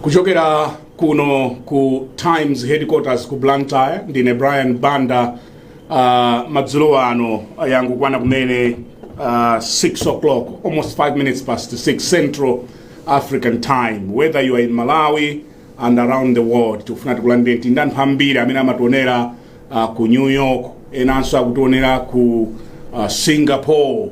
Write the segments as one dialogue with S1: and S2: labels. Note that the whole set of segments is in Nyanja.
S1: kuchokera kuno ku times headquarters ku blantyre ndine brian banda uh, madzulo ano yangokwana kumene uh, 6 o'clock almost 5 minutes past 6 central african time whether you are in malawi and around the world tikufuna tikulandireni anthu ambiri amene amationera uh, ku new york enanso akutionera ku uh, singapore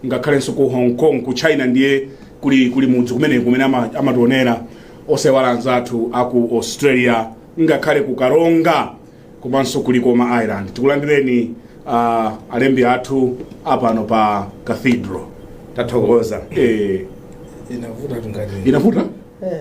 S1: ngakhalenso ku hong kong ku china ndiye kuli, kuli mudzi kumeneku kumene ama- amationera osayiwala anzathu aku australia ngakhale ku karonga komanso ku likoma island tikulandireni uh, alembi athu apano pa cathedral tathokoza eh, inavuta
S2: tungati inavuta Eh,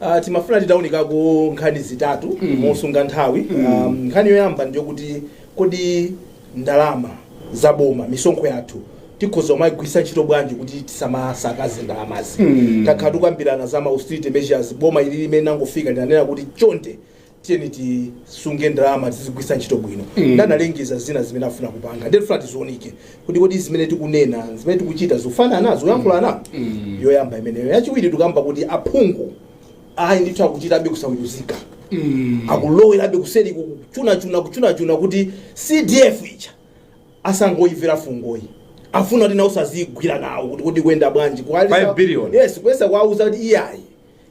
S1: Uh, timafuna
S2: titaunikako nkhani zitatu mm. mosunga nthawi mm. um, nkhani yoyamba ndiyo kuti kodi ndalama za boma misonkho yathu tikhoza kumayigwiritsa ntchito bwanji kuti tisamasakaze ndalamazi mm. takhala tikukambirana za ma austerity measures boma ili limene litangofika linanena kuti chonde tiyeni tisunge ndalama tizigwiritsa ntchito bwino Mm. nde analengeza zina zimene afuna kupanga nde tifuna tizionike kuti kodi zimene tikunena zimene tikuchita zikufanana zikuyankhulana Mm. yoyamba imeneyo yachiwiri tikamba kuti aphungu ayi ndithu akuchitabe kusawiruzika Mm. akulowerabe kuseri kuchunachuna kuchunachuna kuti cdf ija asangoyimvera fungo ayi afuna kuti nawonso azigwira nawo kuti kodi ikuyenda bwanji Kuwalisa- Five billion. yes
S3: kuyesa kuwauza
S2: kuti iyayi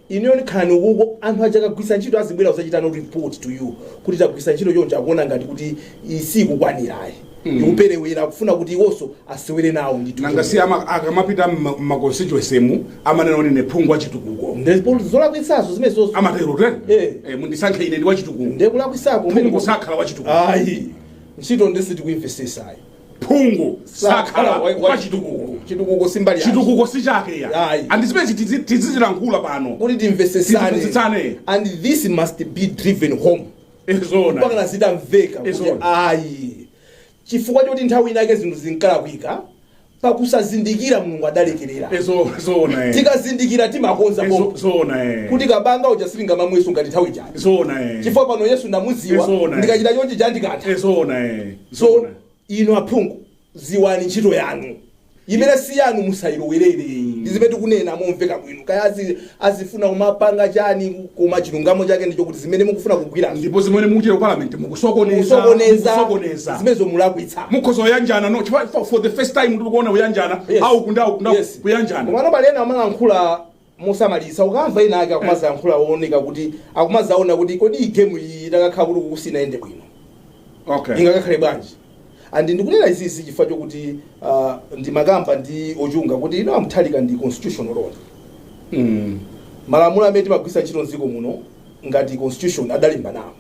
S2: Inuyo khalani ukuko anthu aja akagwiritsa ntchito azibwera kuzachita report to you kuti tagwiritsa ntchito choncho akuona ngati kuti izi sizikukwanira ayi ndikuperewera akufuna kuti iwonso asewere nawo ndithu nanga si ama- akamapita
S1: mmakonstituensemu amanena kuti ndine phungu wachitukuko ndipo zolakwitsazo
S2: ndi zimenezo onse amatero tene Eh.
S1: Eh, mundisankhe ine ndi
S2: wachitukuko
S1: ndekulakwitsako
S2: phungu
S1: sakhala
S2: wachitukuko
S1: ayi ntchito
S2: ndiye tikuimvesesa ayi
S1: phungu sakhala wa- wa chitukuko
S2: chitukuko si mbali yake. chitukuko si chake
S1: ya Ayi. and zimene tizizilankhula pano kuti
S2: timvesesane Timvesesane. and this must be driven home mpaka zitamveka kuti Izona. ayi chifukwa choti nthawi inake zinthu zinkalakwika pakusazindikira mulungu adalekerera Ezo- zona eh. tikazindikira timakonza Ezo- pomwe zona eh. kuti kabanga uja sindingamamweso ngati nthawi chani zona eh. chifukwa pano yesu ndamuziwa Izona. ndikachita chonchi cha andikantha zona eh. So inu aphungu ziwani ntchito yanu imene si yanu musayilowerere ayi ndi zimene tikunena momveka bwino kaya azi- azifuna kumapanga chani koma chilungamo chake ndicho kuti zimene mukufuna kugwira ndipo zimene mukuchita
S1: ku parliament mukusokoneza musokoneza
S2: mukusokoneza zimenezo mulakwitsa mukhoza kuyanjana no
S1: chifukwa for, for the first time tikuona kuyanjana Yes. auku ndi auku ndi auku, Yes. kuyanjana komano pali ena amalankhula
S2: mosamalitsa ukamva ena ake akumadzayankhula akuoneka kuti akumadzaona kuti kodi iyi game iyi itakakhala kuti kuti sinayende bwino okay ingakakhale bwanji and ndikunena izizi chifukwa chokuti uh, ndimakamba ndi ochunga kuti you know a Mutharika ndi constitutional lawyer mm. malamulo amene timagwiritsa ntchito mdziko muno ngati constitution adalemba nawo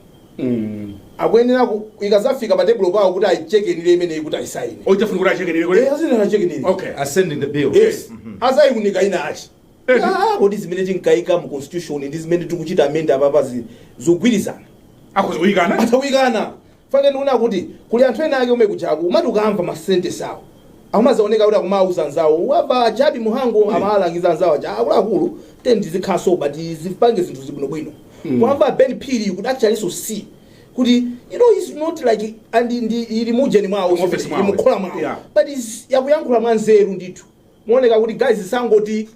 S2: akuyenera ku ikazafika pa table pawo kuti ayichekenire imeneyi kuti ayisaine Ukutanthauza kuti achekenire
S1: kodi Eh, azina achekenire
S2: okay Assenting the bill.
S3: yes azayiunika
S2: inayake Eh, Ah, kodi zimene tinkayika mu constitution ndi zimene tikuchita amend apapa zi- zogwirizana akhoza kuyikana atayikana Chifukwa chake ndiona kuti kuli anthu ena ake omwe kujaku umati ukamva ma sentence awo akumazaoneka kuti akumauza nzawo aja a Jappie Mhango amalangiza nzawo aja akuluakulu tiyeni tizikhaso but zipange zinthu zibwinobwino kuyamba Ben Phiri you could actually see kuti you know he's not like and ndi ili muujeni mwawo Mu office mwawo. mukhola mwawo Yeah. but is yakuyankhula mwa nzeru ndithu kuoneka kuti guys tisangoti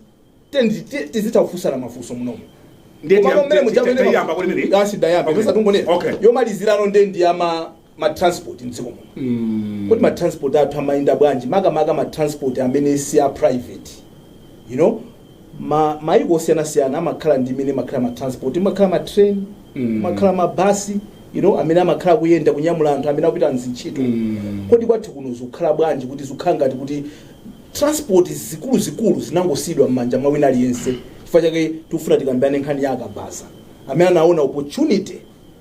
S2: tiyeni te- tizitha kufunsana mafunso munomo Ndiye Koma tiya- mmene tiya- muja tiya- mmene tiyamba ma- kuti mene? Asi dayamba, Okay. mesa tungonena. Okay. yomalizirano nde ndi ya ma transport mdziko muno kodi ma transport athu amayenda bwanji makamaka ma transport amene si a private you know ma maiko osiyanasiyana amakhala ndi imene kumakhala ma transport kumakhala ma train kumakhala ma bus you know amene amakhala kuyenda kunyamula anthu amene akupita mzintchito kodi kwathu kuno zikukhala bwanji kuti zikukhala ngati kuti transport zikuluzikulu zinangosiyidwa m'manja mwa wina aliyense chifukwa chake tikufuna tikambirane nkhani ya akabaza amene anaona opportunity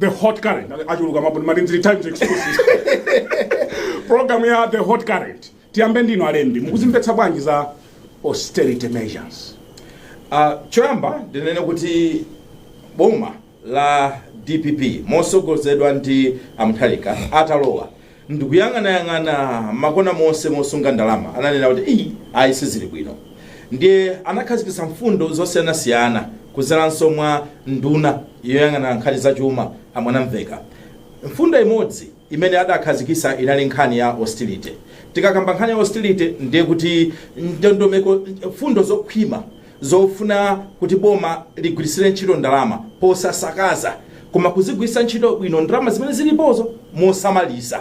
S1: the hot current achuluka mabuni mati ndili times exclusive program ya the hot current tiyambe ndino alembi mukuzimvetsa bwanji za austerity measures
S3: Uh, choyamba ndinene kuti boma la dpp motsogozedwa ndi a Mutharika atalowa ndikuyang'anayang'ana makona monse mosunga ndalama ananena kuti ii ayi sizili bwino ndiye anakhazikitsa mfundo zosiyanasiyana kudzeranso mwa nduna yoyang'ana nkhani za chuma a Mwanamvekha mfundo imodzi imene adakhazikitsa inali nkhani ya austerity tikakamba nkhani ya austerity ndiye kuti ndondomeko mfundo zokhwima zofuna kuti boma ligwiritsire ntchito ndalama posasakaza koma kuzigwiritsa ntchito bwino ndalama zimene zilipozo mosamalitsa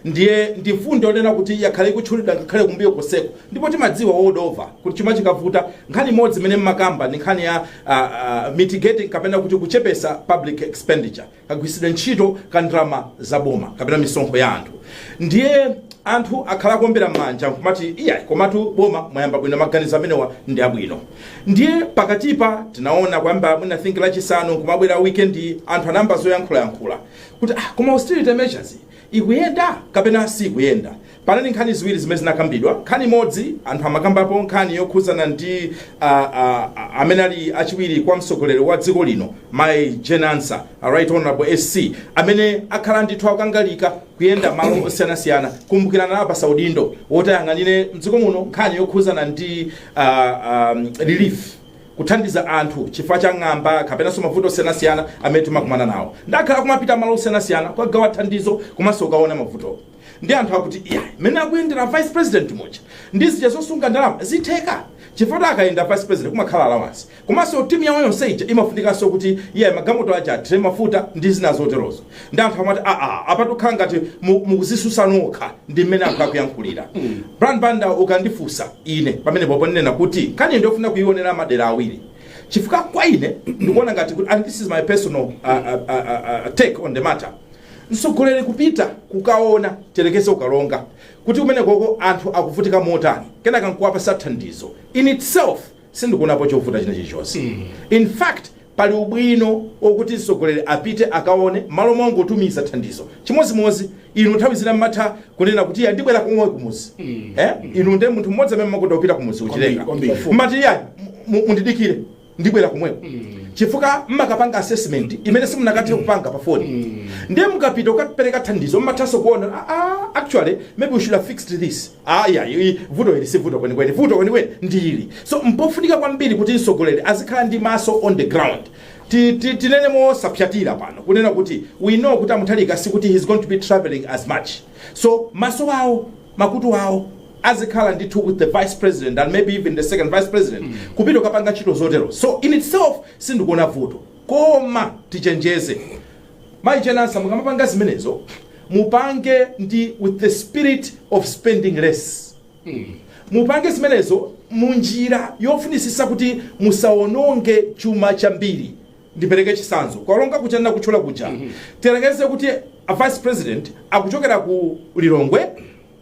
S3: ndiye ndi mfundo yonena kuti yakhala ikutchulidwa ngakhale kumbuyo konseko ndipo timadziwa world over kuti chuma chikavuta nkhani imodzi imene mmakamba ndi nkhani ya ah, ah, mitigating kapena kuti kuchepetsa public expenditure kagwiritsidwe ntchito ka ndalama za boma kapena misonkho ya anthu ndiye anthu akhala akuombera m'manja nkumati iyayi komatu boma mwayamba bwino maganizo amenewa ndi abwino ndiye pakatipa tinaona kuyamba mwina think lachisanu nkumabwera weekend anthu anayamba zoyankhulayankhula kuti ah, koma austerity measures ikuyenda kapena sikuyenda Panali nkhani ziwiri zimene zinakambidwa. Nkhani imodzi anthu amakambapo nkhani yokhudzana ndi a, a, a, amene ali achiwiri kwa mtsogoleri wa dziko lino Mai Jane Ansah, a Right Honorable SC, amene akhala ndithu akangalika kuyenda malo osiyanasiyana kumbukirani anapasidwa udindo woti ayang'anire mdziko muno nkhani yokhudzana ndi a, um, relief kuthandiza anthu chifukwa cha ng'amba kapenanso mavuto osiyanasiyana amene timakumana nawo nde akhala akumapita malo osiyanasiyana kukagawa thandizo komanso kukaona mavuto Ndiye anthu akuti iyayi mmene akuyendera vice president muja ndi zija zosunga ndalama zitheka? Chifukwa akayenda vice president kumakhala allowance komanso team yawo yonse ija imafunikanso kuti iyayi magalimoto aja athire mafuta ndi zina zoterozo. Ndiye anthu amati aa apatu kukhala ngati mukuzisusa nokha ndi mmene anthu akuyankhulira. Brian Banda ukandifunsa ine pamenepopo ndinena kuti nkhaniyi ndiyofuna kuyionera madera awiri chifukwa kwa ine ndikuona ngati kuti and this is my personal take on the matter, Mtsogoleri kupita kukaona tiyerekeze ku Karonga kuti kumenekoko anthu akuvutika motani kenaka nkuwapasa thandizo in itself sindikuonapo chovuta china chilichonse in fact pali ubwino okuti mtsogoleri apite akaone mmalo mongotumiza thandizo chimodzimodzi inu nthawi zina mmatha kunena kuti ya ndibwera komweko kumuzi eh? inu ndi munthu mmodzi amene mmakonda kupita kumuzi kuchilenga Kwambiri, kwambiri. mmati ya mu- mundidikire ndibwera komweko chifukwa mmakapanga assessment imene simunakatha kupanga pa phone ndiye mukapita kukapereka thandizo mmathanso kuona "Ah, ah, actually maybe we should have fixed this aya vuto ili si vuto kwenikweni vuto kwenikweni ndi ili so mpofunika kwambiri kuti mtsogoleri azikhala ndi maso on the ground Ti- ti- tinene mosapsatira pano kunena kuti we know kuti a Mutharika sikuti he's going to be traveling as much so maso awo makutu awo azikhala ndithu with the vice president and maybe even the second vice president kupita kukapanga ntchito zotero so in itself sindikuona vuto koma tichenjeze Mai Jane Ansah mukamapanga zimenezo mupange ndi with the spirit of spending less mupange zimenezo munjira yofunisisa kuti musawononge chuma chambiri ndipereke chisanzo ku Karonga kuja ndinakatchula kuja tiyerekeze kuti a vice president akuchokera ku Lilongwe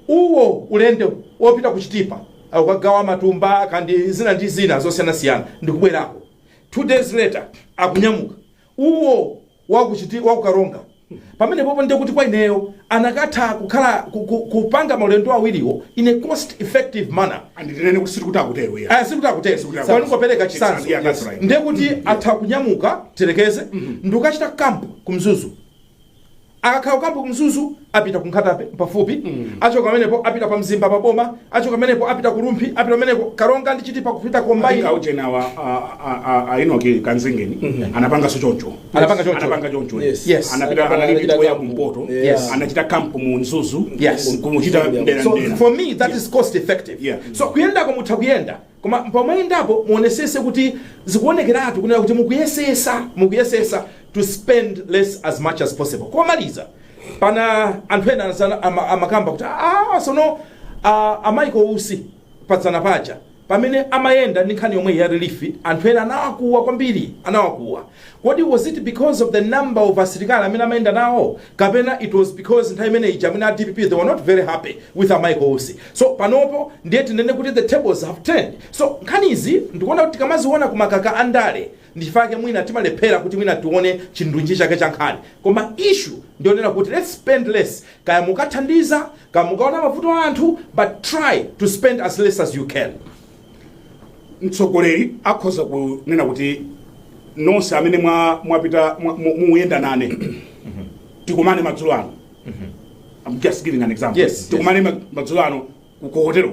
S3: uwo ulendo wopita ku Chitipa akukagawa matumba kandi zina ndi zina zosiyanasiyana ndikubwerako two days later akunyamuka uwo wakuchiti wa ku Karonga Pamenepopo ndiye kuti kwa ineyo anakatha kukhala ku, ku, kupanga maulendo awiriwo in a cost effective manner And ndinene kuti sikuti
S1: akutero iya. aya sikuti akutero Sikuti
S3: akutero. koma ndingopereka It's chitsanzo not yet, that's right. ndiye kuti atha kunyamuka tiyerekeze ndikukachita kampu ku Mzuzu akakhala kukampu ku Mzuzu apita ku Nkhata Bay pafupi achoka pamenepo apita pa Mzimba pa boma achoka pamenepo apita ku Rumphi apita pamenepo Karonga ndi Chitipa kupita kombayi Aika ujenawa
S1: ainoki kanzingeni anapangaso choncho anapanga choncho anapanga
S3: choncho Yes. Yes. anapita Anapanga- anali
S1: anachita kuya kampu. kumpoto Yes. anachita kampu mu Mzuzu Yes. kumuchita Yeah. mdera so mdera for me that is
S3: cost effective Yeah. so kuyendako mutha kuyenda koma pamayendapo muonesese kuti zikuonekeratu kunena kuti mukuyesesa mukuyesesa to spend less as much as possible komaliza pali anthu ena anasana- ama- amakamba kuti "Ah, sono ah, a Michael Usi padzana paja pamene amayenda ndi nkhani yomweyi ya relief anthu ena anawakuwa kwambiri anawakuwa kodi was it because of the number of asilikali amene amayenda nawo kapena it was because nthawi imene ija amene a dpp they were not very happy with a michael usi so panopo ndiye tinene kuti the tables have turned so nkhanizi ndikuona kuti tikamaziona kumakhala ndale Ndi chifukwa chake mwina timalephera kuti mwina tione chindunji chake cha nkhani. Koma issue ndi yonena kuti let's spend less. Kaya mukathandiza, kaya mukaona mavuto a anthu but try to spend as less as you can. mtsogoleri
S1: akhoza kunena kuti nonse amene mwa- mwapita mwa- mu- muyenda nane tikumane madzulo ano I'm just giving an example Yes, yes. tikumane ma- madzulo ano ku hotelo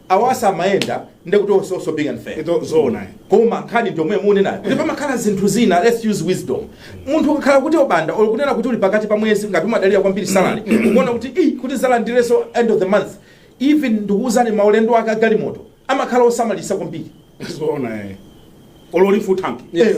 S3: Awa samayenda ndekuti onse also being unfair Zoona eh.
S1: koma nkhani
S3: ndiyomwe munenayo kuti pamakhala zinthu zina let's use wisdom munthu ukakhala kuti obanda or kunena kuti uli pakati pa mwezi ngati umadalira kwambiri salary ukuona kuti "Ih, kuti ndizalandireso end of the month even ndikuwuzani maulendo ake agalimoto amakhala osamalisa kwambiri zoona
S1: eh.
S3: olo
S1: half tanki Yes.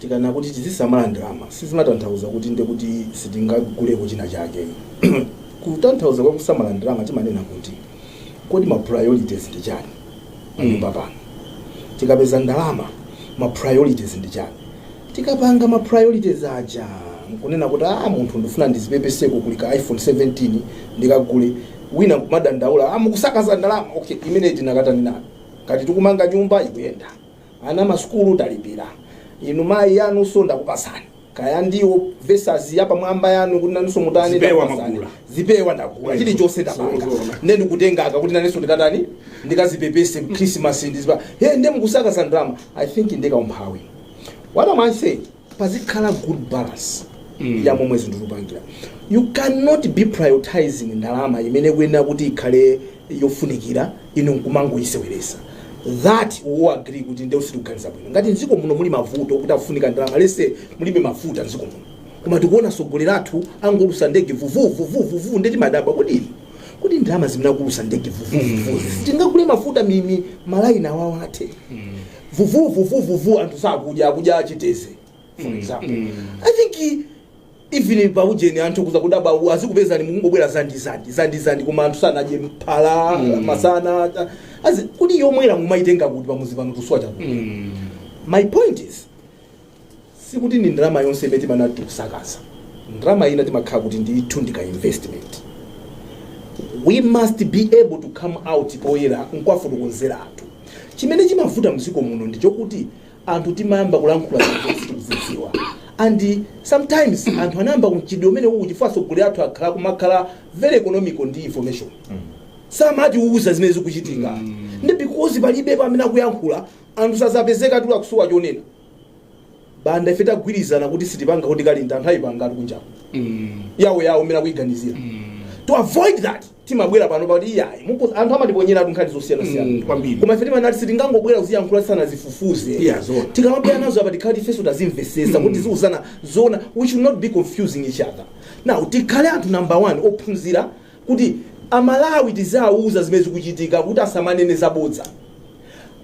S2: Tikanena kuti tizisamala ndalama sizimatanthauza kuti ndiye kuti sitingaguleko china chake. Kutanthauza kwa kusamala ndalama timanena kuti kodi ma priorities ndi chani panyumba pano. Tikapeza ndalama ma priorities ndi chani. Tikapanga ma priorities aja nkunena kuti ah, munthu ndifuna ndizipepeseko kuli iPhone 17 ndikagule wina kumadandaula ah, mukusakaza ndalama. Okay, imene tinakatani nayo. Ngati tikumanga nyumba ikuyenda. ana ma sukulu talipira inu mayi yanuso ndakupasani kaya ndi weaves yapamwamba yanu kuti nanuso mutani Zipewa ndakupasani. mwagula. zipewa ndagula chilichonse ndapanga Zoona. nde nditenge aka kuti nanenso ndikatani ndikazipepese mkrisimasi nziziti he nde mukusakaza ndalama i think ndi kaumphawi what am i saying pazikhala good balance ya momwe zinthu tikupangira you cannot be prioritizing ndalama imene ikuyenera kuti ikhale yofunikira inu nkumangoyiseweresa that we agree kuti nde sitikuganiza bwino ngati mdziko muno muli mavuto oti afunika ndalama let's say mulibe mafuta mdziko muno koma tikuona atsogoleri athu angowulusa ndege vuvuvuvuvuvu nde timadabwa kuti kodi ndalama zimene akuwulusa ndege vuvuvuvu tingagule mafuta mwina malaini awawa athe vuvuu vuvuu vuvuu anthu sakudya akudya chitedze for example i think even pa ujeni anthu akhoza kudabwa u- azikupezani mukungobwera za ndiwo za ndiwo koma anthu sanadye mphala masana ta- azi- kodi yomwera tea mumayitenga kuti pamuzi pano tusowa chakudya my point is sikuti ndi ndalama yonse imene timanati tikusakaza ndalama ina timakhala kuti ndithu ndi ka investment we must be able to come out poyera nkuwafotokozera anthu chimene chimavuta mdziko muno ndi chokuti anthu timayamba kulankhula zinthu sitikuzidziwa and sometimes anthu anayamba kamchitidwe umeneu chifukwa atsogoleri athu akhala akumakhala very economical ndi information samatiuza zimene zikuchitika ndi because palibe pamene akuyankhula anthu sazapezeka atula kusowa chonena banda ife tagwirizana kuti sitipanga kuti kalinda anthu ayipanga ali kunjapo Mm. yawo yawo mmene akuyiganizira Mm. to avoid that timabwera pano pakuti iyayi muko- anthu amatiponyeratu nkhani Mm, zosiyanasiyana kwambiri. koma ife timanati sitingangobwera kuziyankhula tisanazifufuze Yeah, zoona. tikamabwera nazo apa tikhale kuti ifenso tazimvesesa kuti tiziuzana zona we should not be confusing each other now tikhale anthu number one ophunzira kuti a Malawi tiziwauza zimene zikuchitika kuti asamanene zabodza.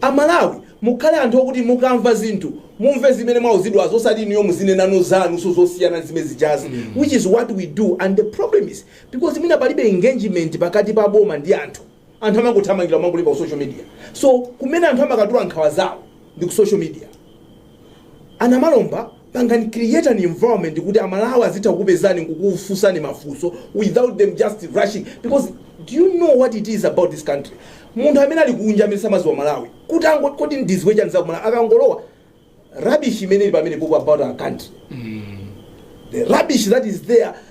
S2: A Malawi mukhale anthu okuti mukamva zinthu mumve zimene mwauzidwazo osati inuyo muzinenano zanunso zosiyana ndi zimene zijazi which is what we do and the problem is because mwina palibe engagement pakati pa boma ndi anthu. Anthu amangothamangira kumangolemba ku social media. So kumene anthu amakatula nkhawa zawo ndi ku social media. A Namalomba pangani create an environment kuti a Malawi azitha kukupezani nkukufunsani mafunso without them just rushing because do you know what it is about this country? Munthu amene ali kunja amene samadziwa Malawi kuti angoti ndidziwe chani za ku Malawi akangolowa rubbish imene ili pamenepopo about our country the rubbish that is there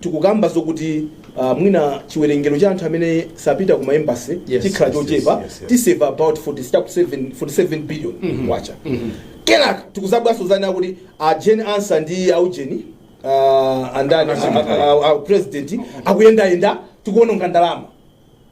S2: tikukamba zokuti uh, mwina chiwerengero cha anthu amene azipita ku maembasi Yes, chikhala yes, chochepa yes, yes, yes. tisave about 47 billion kwacha kenaka tikuzamvaso zonena kuti a jane ansah ndi aujeni uh, a ndani a- a- a- a- president akuyendayenda tikuononga ndalama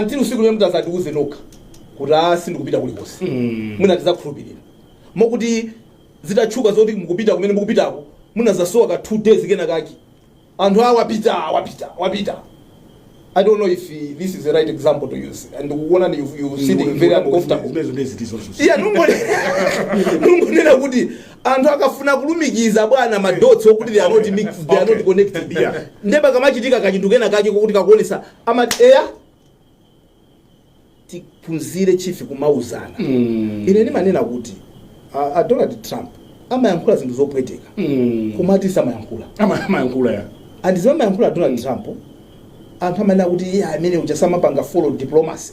S2: until usiku lomwe mutadzatiuze nokha kuti a sindikupita kulikonse mwina tizakhulupirira moti zitatchuka zoti mukupita kumene mukupitako munazasowa ka two days kenaka anthu awa wapita wapita wapita i don't know if uh, this is the right example to use ndikuonani you, you sitting very uncomfortable zimezo ndezitizozo iya nungone- nungonena kuti anthu akafuna kulumikiza bwana madotsi okuti they are not mixed they are not connected Yeah. nde pakamachitika kachinthu kena kake kokuti kakuonesa amati eya tiphunzire chief kumauzana Mm. ine ndimanena kuti a, a donald trump amayankhula zinthu zopweteka Mm. koma akuti samayankhula Ama- amayankhula ya and zimene amayankhula donald trump anthu amanena kuti iye amene uja samapanga follow diplomacy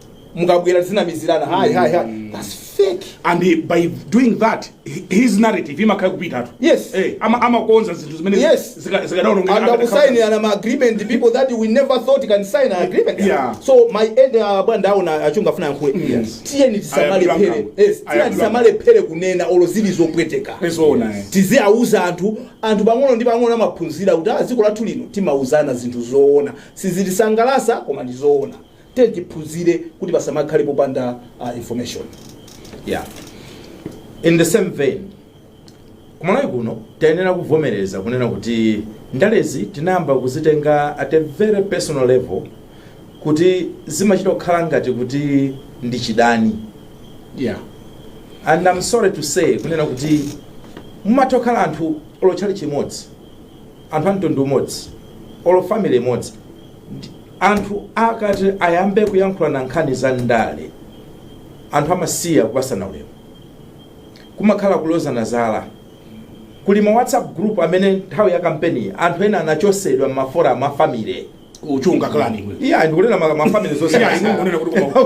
S2: mukabwera zinamizirana hai hai hai that's fake and he,
S1: by doing that hi- his narrative imakhala kupitatu Yes. eh, ama-
S2: amakonza
S1: zinthu zimene Yes. zika- zikadaonongeka and
S2: akadakhala- akusainirana ma agreement people that we never thought can sign an agreement Yeah. so my
S1: end uh,
S2: bwana ndaona achunga afuna yankhule Yes. tiyeni tisamale Ayambira phele nkhambo. yes tiyeni Ayambira tisamalephere kunena olo zili zopweteka Ezoona, eh. tiziauza anthu anthu pang'ono ndi pang'ono amaphunzira kuti ah, dziko lathu lino timauzana zinthu zoona sizitisangalasa koma ndi zoona Tiyeni tiphunzire kuti pasamakhale popanda uh,
S3: information yeah. in the same vein kumalawi kuno tayenera kuvomereza kunena kuti ndalezi tinayamba kuzitenga at a very personal level kuti zimachita kukhala ngati kuti ndi
S1: chidani yeah.
S3: and i'm sorry to say kunena kuti mumatha kukhala anthu olo tchalitchi chimodzi anthu a mtundu umodzi olo family imodzi anthu akati ayambe kuyankhulana nkhani za ndale anthu amasiya kupasana ulemu kumakhala kulozana zala kuli ma whatsapp group amene nthawi ya kampeni anthu ena anachosedwa m'mafora a mafamily kuchunga klani
S1: iya ndikunena ma-
S3: mafamily zonse Iya, inu munena kuti koma-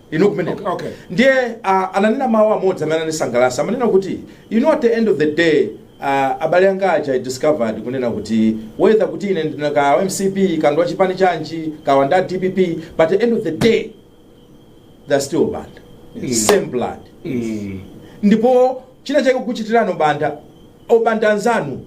S3: inu kumeneko Okay, okay. ndiye uh, ananena mawu amodzi amene anandisangalatsa amanena kuti you know at the end of the day uh, abale anga aja i discovered kunena kuti whether kuti ine ndinkaa mcp Kandodo wa chipani chanji kapanda dpp but the end of the day they're still banda Mm. same blood Mm. ndipo china chake kuchitikirani obanda obanda anzanu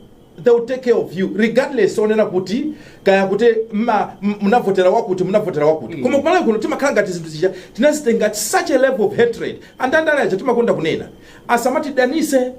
S3: they will take care of you regardless kunena kuti kaya kuti mma- m- munavotera wakuti munavotera wakuti koma kumalawi kuno timakhala ngati zinthu zija tinazitenga at such a level of hatred andandale aja timakonda kunena asamatidanise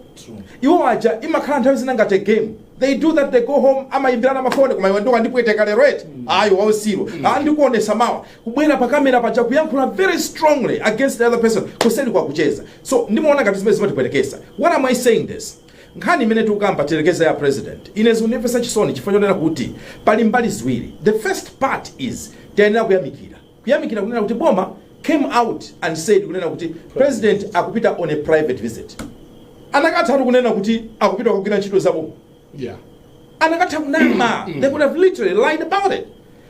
S3: iwo aja imakhala nthawi zina ngati a game they do that they go home amayimbirana mafoni koma iwe ndiye wandipweteka lero eti ayi wausiru ndikuonesa mawa kubwera pa kamera paja kuyankhula very strongly against the other person kuseli akucheza so ndimaona ngati ndi zimene zimatipwetekesa what am i saying this Nkhani imene tikukamba tiyerekeze ya president ine zikundimvetsa chisoni chifukwa chonena kuti pali mbali ziwiri the first part is tayenera kuyamikira kuyamikira kunena kuti boma came out and said kunena kuti president akupita on a private visit anakatha kunena kuti akupita kugwira ntchito za boma yeah.
S1: anakatha
S3: kunama they could have literally lied about it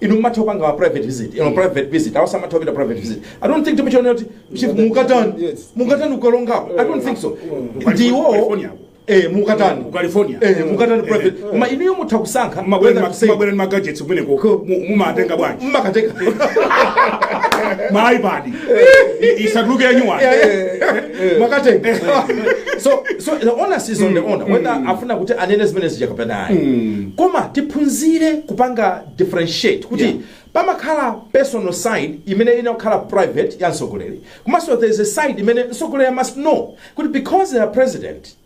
S3: inu mumatha kupanga ma private visit you know, private visit awa samatha kupita private visit i don't think timuchiona kuti chief mukatani Yes. mukatani ukalongapo i don't think so ndiwo California. eh mukatani Ku California.
S1: eh mukatani Eh.
S3: private koma inuyo mutha kusankha whether to say- mabwera
S1: ni magadgets kumeneko Ko- mu- mumatenga bwanji mmakateka ma ipad isatuluke yanyuwani
S3: mwakatenga so so the onus is on the owner whether afuna kuti anene zimene zija kapena ayi koma tiphunzire kupanga differentiate kuti Yeah. pamakhala personal side imene imakhala private ya mtsogoleri komanso there is a side imene mtsogoleri must know kuti because they are president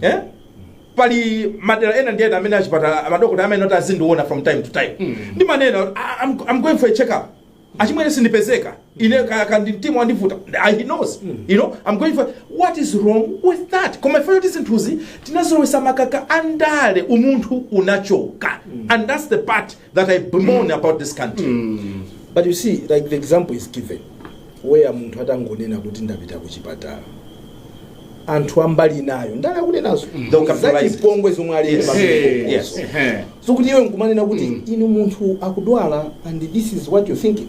S3: eh? pali madera ena ndi ena amene achipatala madokotala amene oti azindiona from time to time ndimanena "I- I'm, i'm going for a check up achimwene sindipezeka ine ka- ka ndi mtima wandivuta he knows you know i'm going for what is wrong with that koma ife poti zinthuzi tinazolowesa makaka andale umunthu unachoka and that's the part that I bemoan about this country. but
S2: you see like the example is given where munthu atangonena kuti ndapita kuchipatala anthu ambali nayo ndale akunenazo They'll capitalize it. zachipongwezo zomwe ali Yes. pamene Yes.
S3: Ehe. sokuti iwe
S2: nkumanena kuti inu munthu akudwala and this is what you thinking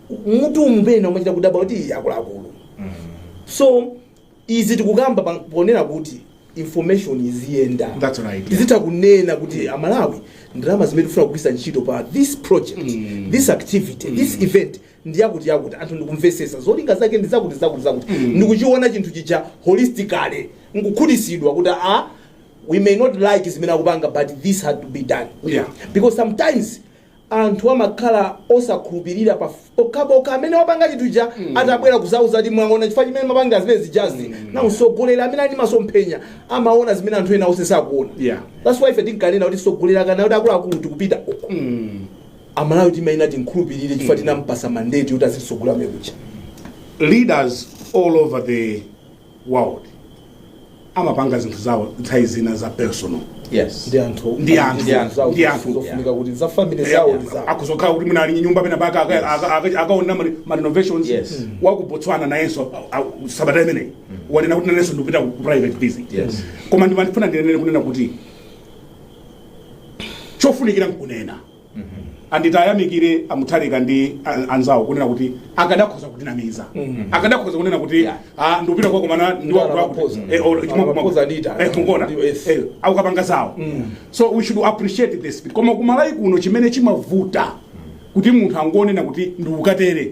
S2: mutu umu pena umachita kudabwa kuti "Ii, akuluakulu so izi tikukamba pa- ponena kuti information iziyenda That's right, yeah. tizitha
S1: kunena kuti
S2: amalawi ndalama zimene tifuna kugwiritsa ntchito pa this project this activity this event ndi zakuti zakuti anthu ndikumvesesa zolinga zake ndi zakuti zakuti zakuti ndikuchiona chinthu chija holistically nkukhutitsidwa kuti a we may not like zimene akupanga but this had to be done Yeah. because
S1: sometimes
S2: anthu amakhala osakhulupirira pa pokhapokha amene wapanga chinthu chija atabwera kuzauza kuti mwaona chifukwa chimene ndimapangira zimene zijazi na msogoleri amene ali ndi masomphenya amaona zimene anthu ena onse sakuona Yeah. that's why
S1: ife
S2: tinkanena kuti msogoleri akanena kuti akuluakulu tikupita uko amalawi timayenera timkhulupirire chifukwa tinampasa mandate yoti azitisogolera leaders
S1: all over the world amapanga zinthu zawo nthawi zina za personal
S3: yes ndi anthu
S2: Ndi anthu. ndi anthu zawo Ndi anthu. zofunika kuti za family zawo ndi zawo akuzokhala kuti mwina ali
S1: ndi nyumba penapake aka- aka- aka- akaona ma- ma renovations Yes. Mm. wa ku botswana nayenso a- a- sabata imeneyi wanena kuti nanenso ndikupita ku private visit Yes. koma ndimafuna ndinene kunena kuti chofunikira nkunena and tiwayamikire amutharika ndi an- anzawo kunena kuti akadakhoza kutinamiza akadakhoza kunena kuti Yeah. ah, ndikupita kukakomana Anamapoza. Anamapoza adita. mukona Yes. akukapanga zawo so we should appreciate this koma kuMalawi kuno chimene chimavuta kuti munthu akangonena kuti ndikukatere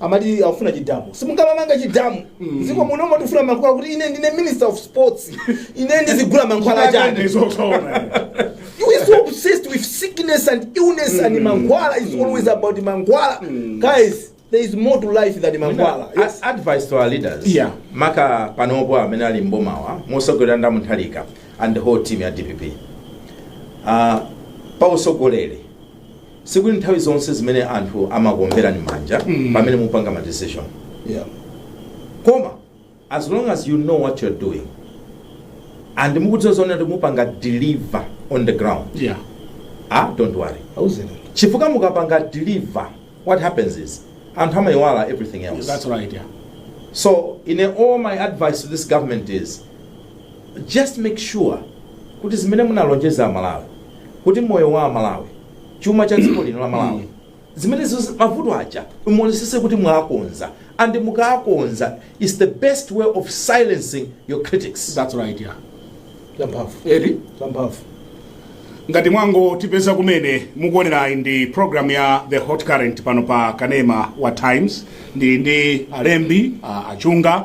S2: amati akufuna chidamu simungamamanga chidamu mdziko muno tikufuna mankhwala kuti ine ndine minister of sports ine ndizigula mankhwala achani you are so obsessed with sickness and illness and mankhwala is always about mankhwala guys there is more to life than mankhwala Yes. A- advice to
S3: our leaders Yeah. maka panopo amene ali mbomawa mosogoleredwa ndi a Mutharika and the whole team ya dpp uh, pa usogoleri sikuti nthawi zonse zimene anthu amakuomberani manja Mm. pamene mupanga ma decision yeah. koma as long as you know what you're doing and mukudziwa zoona kuti mupanga deliver on the ground yeah. ah don't worry auzeni chifukwa mukapanga deliver what happens is anthu amayiwala everything else that's right
S1: yeah.
S3: so in a, all my advice to this government is just make sure kuti zimene munalonjeza amalawi kuti moyo wa amalawi chuma cha dziko lino la malawi zimene ziz- mavuto aja muonesese kuti mwakonza and mukakonza is the best way of silencing your critics that's right yeah
S1: zamphamvu
S2: eti zamphamvu
S1: ngati mwangotipeza kumene mukuonerayi ndi program ya the hot current pano pa kanema wa times ndi ndi alembi a- achunga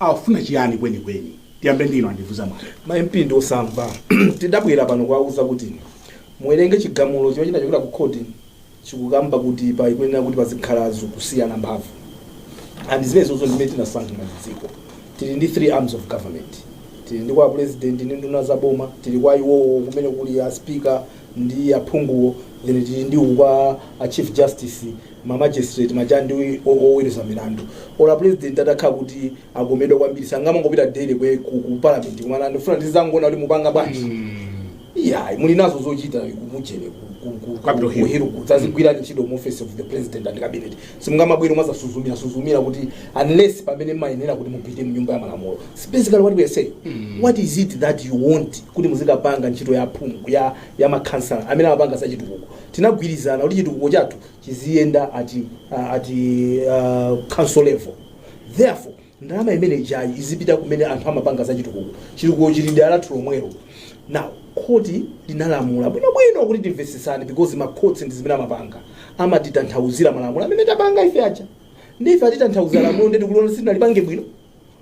S1: Akufuna chiyani kwenikweni? Tiyambe ndi inu Andivuza Mwale. Ma MP ndi osamva.
S2: Tidabwera pano kuwauza kuti muwerenge chigamulo chimene chinachokera ku khoti chikukamba kuti pakuyenera kuti pazikhala kusiyana mphamvu and zimenezozo ndizimene tinasankha ngati dziko. Tili ndi 3 arms of government. Tili ndi kwa Pulezidenti ndi nduna za boma, tili kwa iwowo kumene kuli a Speaker ndi aphunguwo, then tili ndi uku kwa a Chief Justice. ma magistrate ma judge ndi oweruza milandu or a president atakhala kuti akomedwa kwambiri sangamangopita daily kwe ku, ku parliament kumati ndifuna ndizangona kuti mupanga bwanji iya muli nazo zochita kumujere Capitol Hill. ku Hill kudzazigwirani ntchito mu office of the president and cabinet simungamabwere kumazasuzumira suzumira kuti unless pamene mumayenera kuti mupite mnyumba ya malamulo It's basically what we are saying what is it that you want kuti muzikapanga ntchito ya phungu ya ya makhansala amene amapanga zachitukuko tinagwirizana kuti chitukuko chathu chiziyenda at, uh, at uh, council level therefore ndalama imene ijayi izipita kumene anthu amapanga za chitukuko chitukuko chili dera lathu lomwelo now khoti linalamula bwinobwino kuti timvetsesane because makhoti ndi zimene amapanga amatitanthauzira malamulo amene tapanga ife aja ndife atitanthauzira lamulo ndiye tikuliona sitinalipange bwino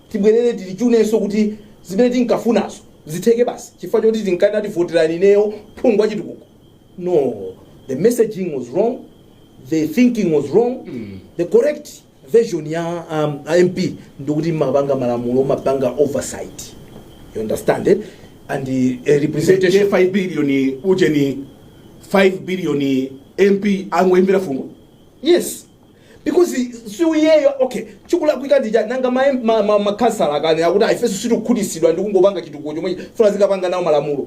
S2: tibwerere tilitchunenso kuti zimene tinkafunazo zitheke basi chifukwa choti tinkati tivotereni ineyo phungu wachitukuko No, the messaging was wrong, the thinking was wrong. The correct version ya um, a MP ndikuti mumapanga malamulo mumapanga oversight. You understand it? And the uh, representation. 5 billion
S1: ujeni 5 billion mp angoimvera fungo
S2: Yes. Because siyawoyo okay chikulakwika ndi chani nanga ma ma, ma, ma khansala atakana akuti ifenso sitikukhutitsidwa ndi kungopanga chitukuko chokha tifuna tizikapanga nawo malamulo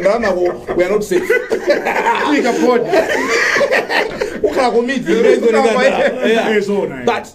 S2: ndalamako we are not safe Ika podi. ukhala komiti Yeah. Zona, yeah. but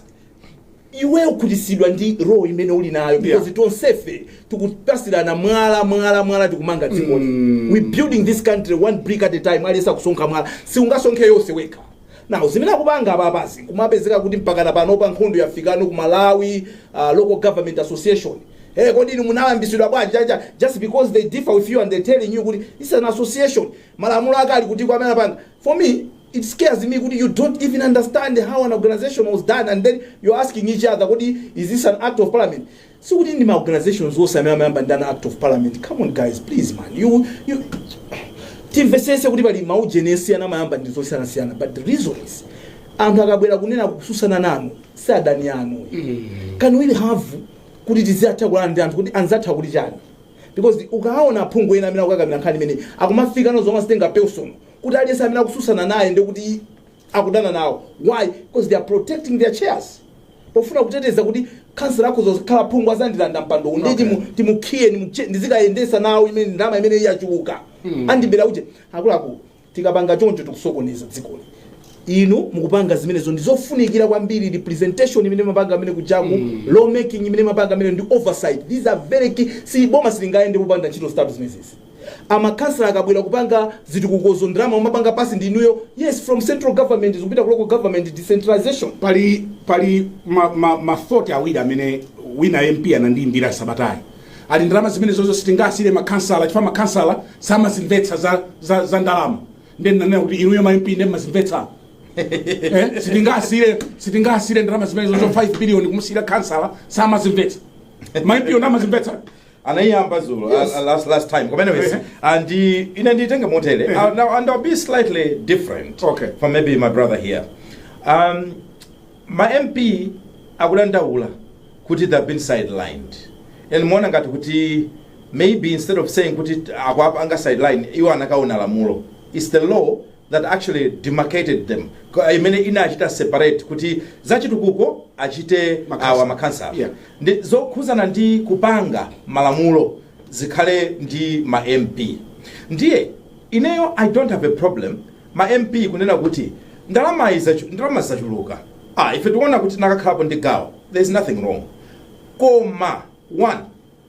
S2: iwe ukhutitsidwa ndi role imene uli nayo because Yeah. tonsefe tikupasirana mwala mwala mwala tikumanga dzikoli we building this country one brick at a time aliyense akusonkha mwala siungasonkhe yonse wekha Now zimene akupanga apapazi kumapezeka kuti mpakana panopa nkhondo yafikano ku Malawi uh, local government association Hey, kodi inu munayambitsidwa bwanji just because they differ with you and they telling you kuti it's an association malamulo ake ali kuti kwa amene apanga for me it scares me kuti you don't even understand how an organization was done and then you're asking each other kodi is this an act of parliament Sikuti ndi ma organizations onse amene amayamba ndi an act of parliament, come on guys please man you you timvesese kuti pali ma ujeni esiyana amayamba ndi zosiyanasiyana but the reason is anthu akabwera kunena kutsutsana nanu si adani anu can we have kuti tiziyankhulana ndi anthu kuti anzatha kuti chani because ukaona aphungu ena amene akukakamira nkhani imene akumafika nazo zomwe azitenga personal kuti aliyense amene akutsutsana naye ndikuti akudana nawo why because they are protecting their chairs pofuna kuteteza kuti khansala akhoza kukhala phungu azandilanda mpando uwu ndiye Okay. timu- timukhiye nimutche- ndizikayendesa nawo imene ndalama imene yachuluka Mm. andibera uje akuluakulu tikapanga choncho tikusokoneza dzikoli inu mukupanga zimenezo ndizofunikira kwambiri representation imene mumapanga amene kujaku Mm. law making imene mumapanga amene ndi oversight these are very key see boma silingayende popanda ntchito zitatu zimenezi Makhansala akabwera kupanga zitukukozo ndalama mumapanga pass ndi inuyo? Yes from central government zikupita ku local government decentralization. Pali pali
S1: ma ma ma thought awiri amene wina MP anandiimbira sabatayi ali ndalama zimenezozo sitingasiyire makhansala chifukwa makhansala samazimvetsa za, za, za ndalama ndiye ndinanena kuti inuyo ma MP ndiye mmazimvetsa eh, sitingasiyire sitingasiyire ndalama zimenezozo 5 billion kumusiyira khansala samazimvetsa ma MP wo ndamazimvetsa anayiyamba
S3: zulo Yes. uh, uh, last, last time koma anyways Eh. and uh, ine nditenge motere Eh. uh, now and i'll be slightly different Okay. from maybe my brother here um, ma mp akudandaula kuti they've been sidelined and ndimaona ngati kuti maybe instead of saying kuti akuwapanga sideline iwo anakaona lamulo its the law that actually demarcated them, kwa- imene inachita separate kuti zachitukuko achite Makhansala. awa makhansala Yeah. ndi zokhudzana ndi kupanga malamulo zikhale ndi ma mp ndiye ineyo i don't have a problem ma mp kunena kuti ndalama izachu- ndalama zachuluka ah, ife tikuona kuti tinakakhalapo ndi gawo there is nothing wrong koma one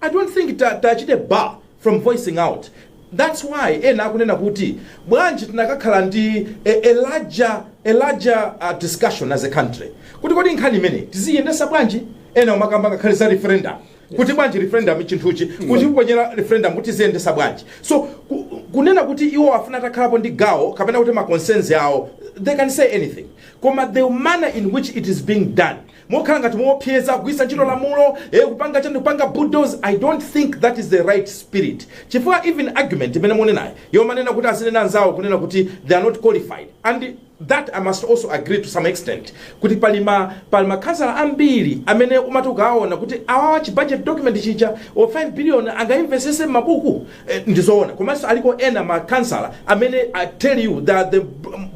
S3: I don't think that tachite bar from voicing out that's why ena akunena kuti bwanji tinakakhala ndi a, a larger, a larger uh, discussion as a country kuti kodi nkhani imeneyi tiziyendesa bwanji ena umakamba ngakhale za referendum kuti bwanji referendum ichinthuchi kuti kuponyera referendum kuti ziyendesa bwanji so ku, kunena kuti iwo afuna atakhalapo ndi gawo kapena kuti maconcerns awo they can say anything koma the manner in which it is being done mokhala ngati moopseza, kugwiritsa ntchito lamulo, eh, kupanga chani, kupanga bulldoze, I don't think that is the right spirit. Chifukwa even argument imene munenayo yomanena kuti azinena anzawo kunena kuti they are not qualified and that I must also agree to some extent kuti pali ma pali makhansala ambiri amene umati ukawaona kuti awawa chi budget document chija o 5 billion angaimvesese m'mabuku Eh, ndizoona komanso aliko ena makhansala amene i tell you they are the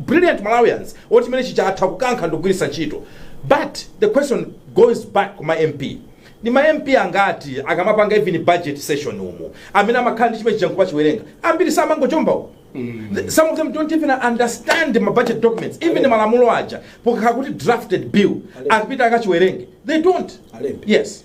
S3: brilliant malawians oti chimene chija atha kukankha ndikugwiritsa ntchito but the question goes back kuma mp ndi ma mp angati akamapanga even budget session umu amene amakhala ndi chimene chija nkumachiwerenga ambiri samangochomba umu The- some of them don't even understand ma budget documents even malamulo aja pokakhala kuti drafted bill akapita akachiwerenge they don't Alembe.
S2: yes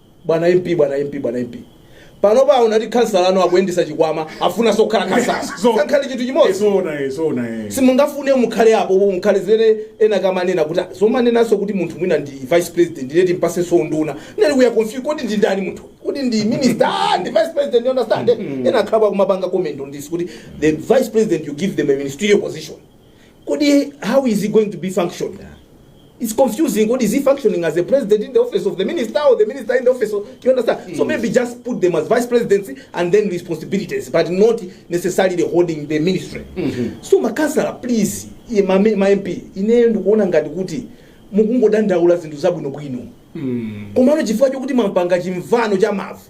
S2: Bwana MP, bwana MP, bwana MP. Panopa munati khansala anu akuyendesa chikwama afunaso akhala khansala. So- Sankhani chinthu chimodzi. Zona eh, zona eh. simungafune mukhale apo bo mukhale zimene ena akamanena kuti "Ah, zomanenanso kuti munthu mwina ndi vice president ndiye timpasenso unduna nayonso ikuya confuse kodi ndi ndani munthu kuti ndi minister ah, ndi vice president you understand ena akhala akumapanga comment on this kuti the vice president you give them a ministerial position kodi how is he going to be functioning it's confusing kodi is he functioning as a president in the office of the minister or the minister in the office of you understand so maybe just put them as vice presidents and then responsibilities but not necessarily holding the ministry so makansala please iye ma, ma mp ineyo ndikuona ngati kuti mukungodandaula zinthu zabwinobwino komano chifukwa chokuti timapanga chimvano cha mavu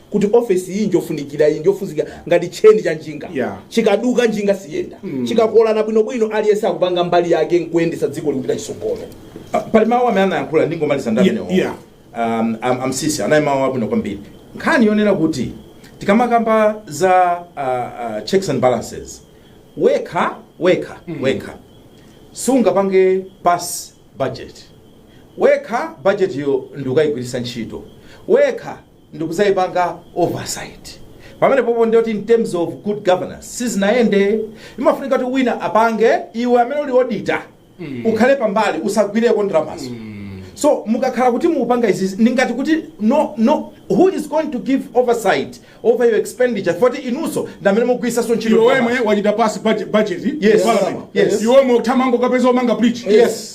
S2: kuti ofesi iyi njofunikira iyi njofuzika ngati tcheni cha njinga Yeah. chikaduka njinga siyenda chikakolana bwinobwino aliyense akupanga mbali yake nkuyendetsa dziko likupita chisogolo Ah, pali mawu
S3: amene anayankhula ndingomaliza ndi Yeah, amenewo yeah. um, am- amsisi anayankhula mawu abwino kwambiri nkhani yonena kuti tikamakamba za uh, uh, checks and balances wekha wekha wekha sungapange pass budget wekha budget yo ndikayigwiritsa ntchito wekha ndikuzaipanga oversight pamene popo ndiyoti in terms of good governance sizinayende imafunika kuti wina apange iwe amene uli auditor ukhale pambali usagwireko ndalamazo so mukakhala kuti mukupanga izizi ndingati kuti no no who is going to give oversight over your expenditure poti inuso ndamene mugwisaso ntchito iwe wemwe wachita pass
S1: budget Yes. Parliament. Yes.
S3: iwe wemwe uthamange
S1: ukapeze omanga bridge Yes.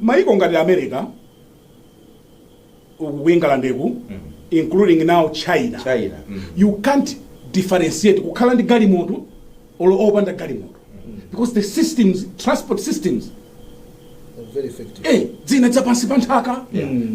S1: Mayiko ngati America, ku England including now China, China. Mm. you can't differentiate kukhala ndi galimoto or opanda galimoto because the systems, transport systems
S2: Very effective. eh, zina za pansi
S1: pa nthaka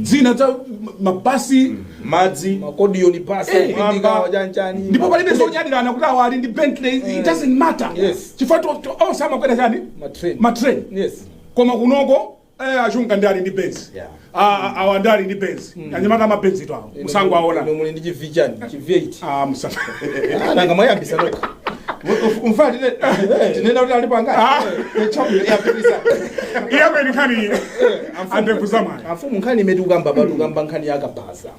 S1: zina za ma- mabasi
S3: madzi Makodiyoni
S2: basi Eh, kupindika mwamba. wajanjani. ndipo palibe zonyadirana
S1: kuti awa ali ndi bentley it doesn't matter Yes. chifukwa to- to- onse amakwera chani Matrain. matrain Yes. koma kunoko eh, achunga ndi ali ndi benz Yeah. Ah, ah, awa ndi ali ndi benz anyamata amabenzi to awo musango aona Inu muli ndi chivichani
S2: chi V8 Ah, musa-
S1: nanga mwayambisa
S2: nokha
S3: mfana tinena kuti alipo angati yapitisa iyapo
S1: enikhani andevu zamwana amfumu nkhani imene
S2: ukamba pati ukamba nkhani yakabhaza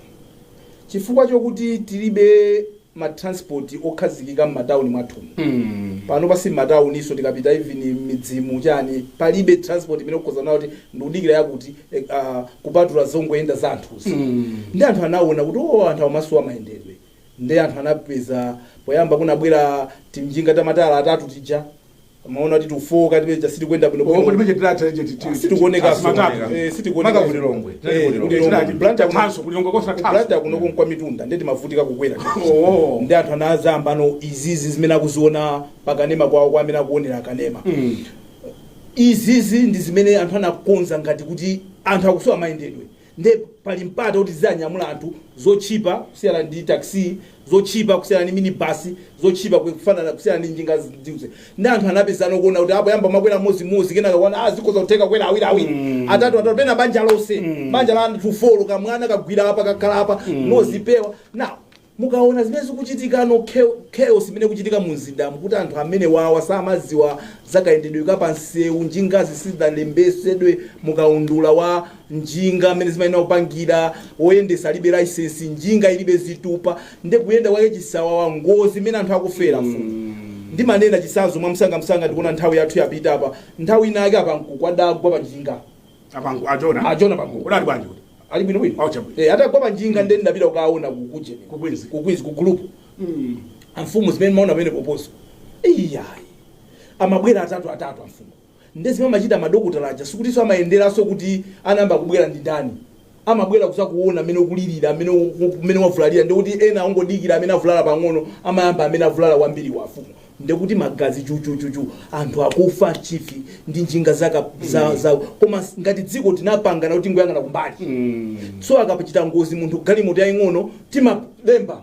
S2: chifukwa chokuti tilibe ma transport okhazikika m'matauni mwathu panopa si m'matauninso tikapita even m'midzimu chani palibe transport imene ukhoza kunena kuti ndikudikira yakuti eh, ah, kupatula zongoyenda za anthuzi nde anthu anaona kuti o anthu amasowa mayendedwe nde anthu anapeza poyamba kunabwera timjinga tamatala atatu tija amaona kuti tufooka tibe chija sitikuyenda bwino Koma bwino ndimeche tilatha icho
S1: titi. Ah, sitikuoneka
S2: Asimatatu. sitikuoneka. Eh, sitikuoneka. Maka ku Lilongwe. Eh,
S3: Tinali ku Lilongwe. ku Lilongwe. Tinali Blantyre kuno-
S1: Tanso, ku Lilongwe konse tanso. Blantyre kunoko
S2: nkwa mitunda ndiye timavutika kukwera Oh. nde anthu anazayamba ano izizi zimene akuziona pakanema kwawo kwa amene akuonera akanema Mm. izizi ndi zimene anthu anakonza ngati kuti anthu akusowa mayendedwe nde pali mpata oti tizanyamula anthu zotchipa kusiyana ndi taxi zotchipa kusiyana ndi minibus zotchipa kufanana kusiyana ndi njinga ndiuze nde anthu anapezana kuona kuti poyamba amakwera mmodzi mmodzi kenaka kuona ah zikhoza kutheka kukwera awiri awiri atatu atatu pena banja lonse banja la anthu folo kamwana kagwira apa kakhala apa m'modzi paphewa now Mukaona zimene zikuchitikano chaos imene ikuchitika mumzindamu kuti anthu amenewawa samadziwa zakayendedwe ka pamsewu njingazi sizidalembesedwe mukaundula wa njinga mmene zimayenera kupangira woyendesa alibe license njinga ilibe zitupa nde kuyenda kwake chisawawa ngozi mmene anthu akufera mfumu ndimanena chitsanzo mwamsangamsanga ndikuona nthawi yathu yapita apa nthawi ina yake apa mkuluwa adagwa panjinga Abangu
S1: ajona. Ajona bangu.
S2: Kodi ali bwanji kodi?
S1: Ali bwino bwino.
S2: Acha bwino. Eh atagwa panjinga nde nditapita kukaona kukuje. Ku Queens. Ku Queens ku group. Mm. Amfumu zimene ndimaona pamene poposo. Iyayi. Amabwera atatu atatu amfumu. Nde zimene amachita madokotala aja sikutiso amayenderanso kuti anayamba kubwera ndi ndani. amabwera kuzakuona mmene ukulirira mmene u- mmene wavulalira ndekuti ena ongodikira amene avulala pang'ono amayamba amene avulala kwambiri amfumu ndekuti magazi chuchuchuchu anthu akufa chife ndi njinga zaka za, za koma s- ngati dziko tinapangana kuti tingoyang'ana kumbali so akapachita ngozi munthu galimoto yaying'ono timalemba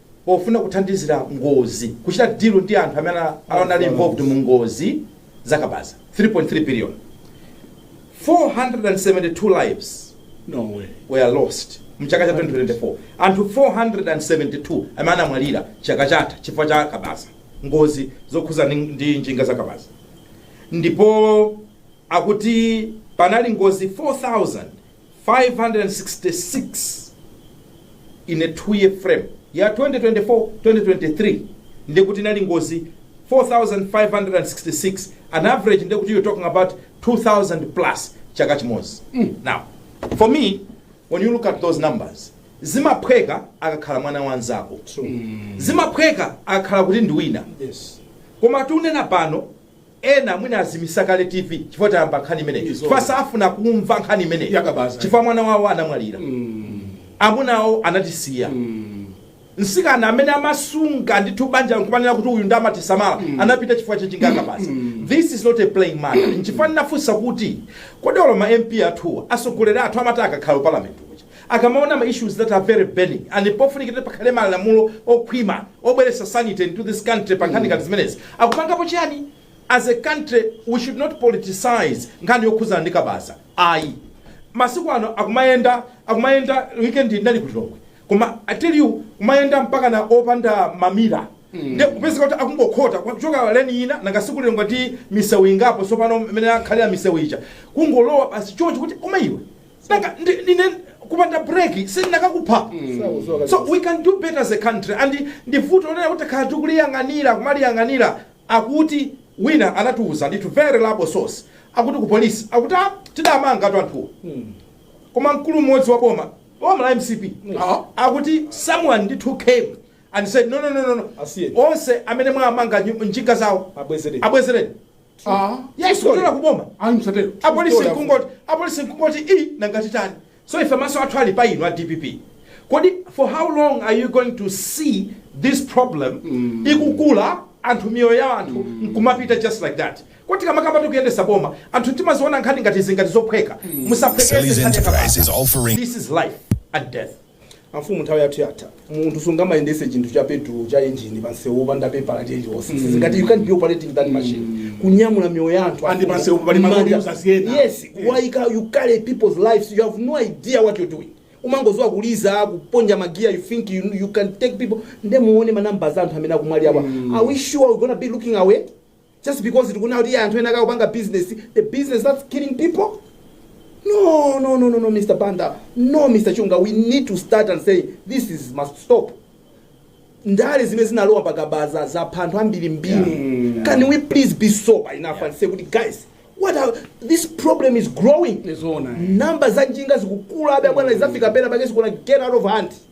S3: pofuna kuthandizira ngozi kuchita deal ndi anthu amene anali involved mu ngozi zakabaza 3.3 billion 472 lives no way were lost mchaka cha 2024 anthu 472 amene anamwalira chaka chatha chifukwa cha kabaza ngozi zokhuza ndi njinga za kabaza ndipo akuti panali ngozi 4566 in a two year frame ya 2024 2023 ndiye kuti inali ngozi 4566 an average ndiye kuti you're talking about 2000 plus chaka chimodzi now for me when you look at those numbers zimaphweka akakhala mwana wanzako zimaphweka akakhala kuti ndi wina yes koma tikunena pano Ena mwina azimisa kale TV chifukwa tayamba nkhani imeneyi Izo. chifukwa safuna kumva nkhani imeneyi Yakabaza. chifukwa mwana wawo anamwalira amuna awo anatisiya msikana amene amasunga ndithu banja nkumanena kuti uyu nde amatisamala anapita chifukwa cha njinga ya kabaza this is not a playing matter nchifukwa ndinafunsa kuti kodi olo ma mp athuwa atsogoleri athu amati akakhala parliament kuja akamaona ma issues that are very burning and pofunika kuti pakhale malamulo okhwima obweretsa sanity into this country pa nkhani ngati zimenezi, akupangapo chiyani? As a country we should not politicize nkhani yokhudza ndi kabaza ayi. Masiku ano akumayenda akumayenda weekend iyi ndinali ku Lilongwe koma I tell you kumayenda mpakana opanda mamira nde kupezeka kuti akungokhota kuchoka lane ina nanga siku Lilongwe ndi misewu ingapo tsopano imene akhalira misewu ija kungolowa basi choncho kuti koma iwe Nanga ndi- ndine kupanda break sindikanakupha so we can do better as a country and ndi vuto lonena kuti takhala tikuliyang'anira kumaliyang'anira akuti wina anatiuza ndithu very reliable source akuti ku polisi akuti "Ah, tidamangatu anthuwo koma mkulu mmodzi wa boma boma la mcp Ah. akuti someone ndithu came and said no no no no, no Asiye. onse amene mwamanga nyu- njinga zawo abwezereni Yes, true kutola story. kuboma. Ayi msatero. apolisi Story nkungoti apolisi nkungoti i nanga titani so ife maso athu ali pa inu a dpp kodi for how long are you going to see this problem ikukula anthu miyoyo ya anthu nkumapita just like that kodi tikamakamba tikuyendesa boma anthu timaziona nkhani ngati izi ngati zophweka musaphweketse this is life and death amfumu nthawi
S2: yathu yatha munthu sungamayendese chinthu cha petulo cha injini pansewu opanda pepala lililonse sizingati you can't be operating that machine kunyamula miyoyo ya anthu and pansewu pali malori mmanja.
S1: usasiyena. yes kuwaika
S2: you carry people's lives you have no idea what you're doing umangodziwa kuliza kuponya magiya you think you, you can take people nde muone manamba za anthu amene akumwalirawa are we sure we're gonna be looking away just because tikuona kuti anthu ena akupanga business the business that's killing people no no no no no mr banda no mr chunga we need to start and say this is must stop ndale zimene zinalowa pakabaza zapha anthu ambirimbiri can we please be sober enough and say kuti guys what are, this problem is growing Zoona, eh. namba za njinga zikukula abe abwana zafika pena pake zikuona get out of hand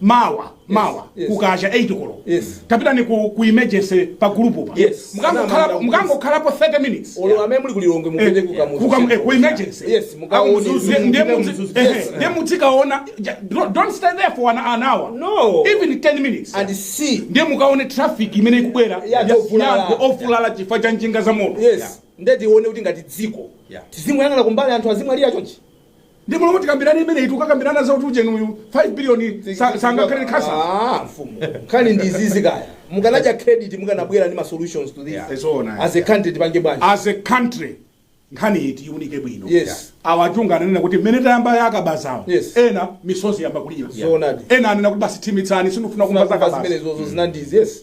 S2: mawa
S1: mawa yes. kukacha 8 koloko yes. kapitani
S2: ku,
S1: ku emergency pa gulupu pa
S2: yes. mukangokhalapo
S1: 30 minutes ku
S2: emergency
S1: ndiye mudzikaona don't stay there for an, an hour no. even
S2: 10 minutes
S1: and see
S2: ndiye mukaone
S1: traffic imene ikubwera ya anthu ovulala chifukwa cha njinga za moto yes. yeah. nde
S2: tione kuti ngati dziko yeah. tizingoyang'ana kumbali anthu azimwalira chonchi Nde m'malo
S1: moti tikambirane imeneyi tikukakambirana za kuti ujeni uyu 5 billion sa- sangakhale khasa. Ah,
S2: mfumu nkhani ndi izizi kaya mukanadya credit mukanabwera ndi ma solutions to this Yeah. Zoona. as a country tipange bwanji As a
S1: country nkhani iyi tiunike bwino. Yes.
S2: Awachunga ananena
S1: kuti mmene tayamba ya kabazawo. Yes. Ena
S2: misozi ayamba
S1: kulira. Zoonadi. Ena anena kuti basi thimitsani sindifuna kumva za Zinakumva kabaza. zimenezozo zinandizi
S2: yes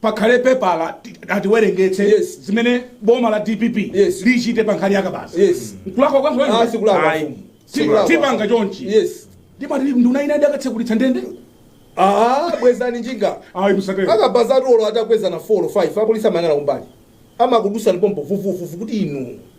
S1: pakhale pepala ti- atiwerengetse Yes.
S2: zimene boma
S1: la dpp Yes. lichite pa
S2: nkhani ya
S1: kabaza Yes. nkulakwa kwanso
S2: wena? Ah,
S1: sikulakwa. Ayi. Si-
S2: Sikulakwa.
S3: tipanga
S2: chonchi
S1: yes ndipo
S2: ati nduna
S1: ina idakatsekulitsa ndende
S2: ah bwezani njinga ayi
S1: musatero akabazatu olo atakwezana
S2: 4 or 5 apolisi amayang'ana kumbali amakudusani pompo vuvuvuvu kuti inu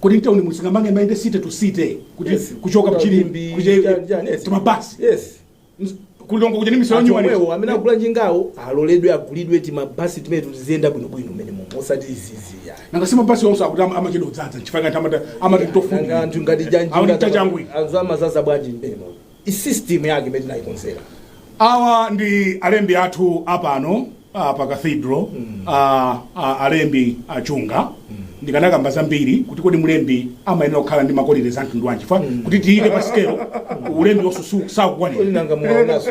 S2: Kodi mtauni
S1: muno singamange mayende city to city kuti Yes. kuchoka mchilimbi Mchilimbi, kuja- chani, chani, yes. timabasi yes
S2: ku
S1: Lilongwe kuja ni misala anthu nyumba omwewo amene akugula njingawo
S2: aloledwe agulidwe timabasi timene tiziyenda bwinobwino mmenemumo osati izizi yayi nanga si mabasi onse akuti
S1: ama- amachedwa kudzadza nchifukwa ngati amata amati nanga tofu anthu ngati
S2: Awuti tachangwi. janjinga anthu
S1: amazaza bwanji
S2: mmenemumo i system yake imene tinayikonzera
S1: awa ndi alembi athu apano ah, pa cathedral ah, ah, alembi a Chunga ndikanakamba zambiri kuti kodi mlembi amayenera kukhala ndi ma qualities a mtundu wanji fa kuti tiyike pa sikelo ulembiwo su- su- sakukwanira nanga muwaonaso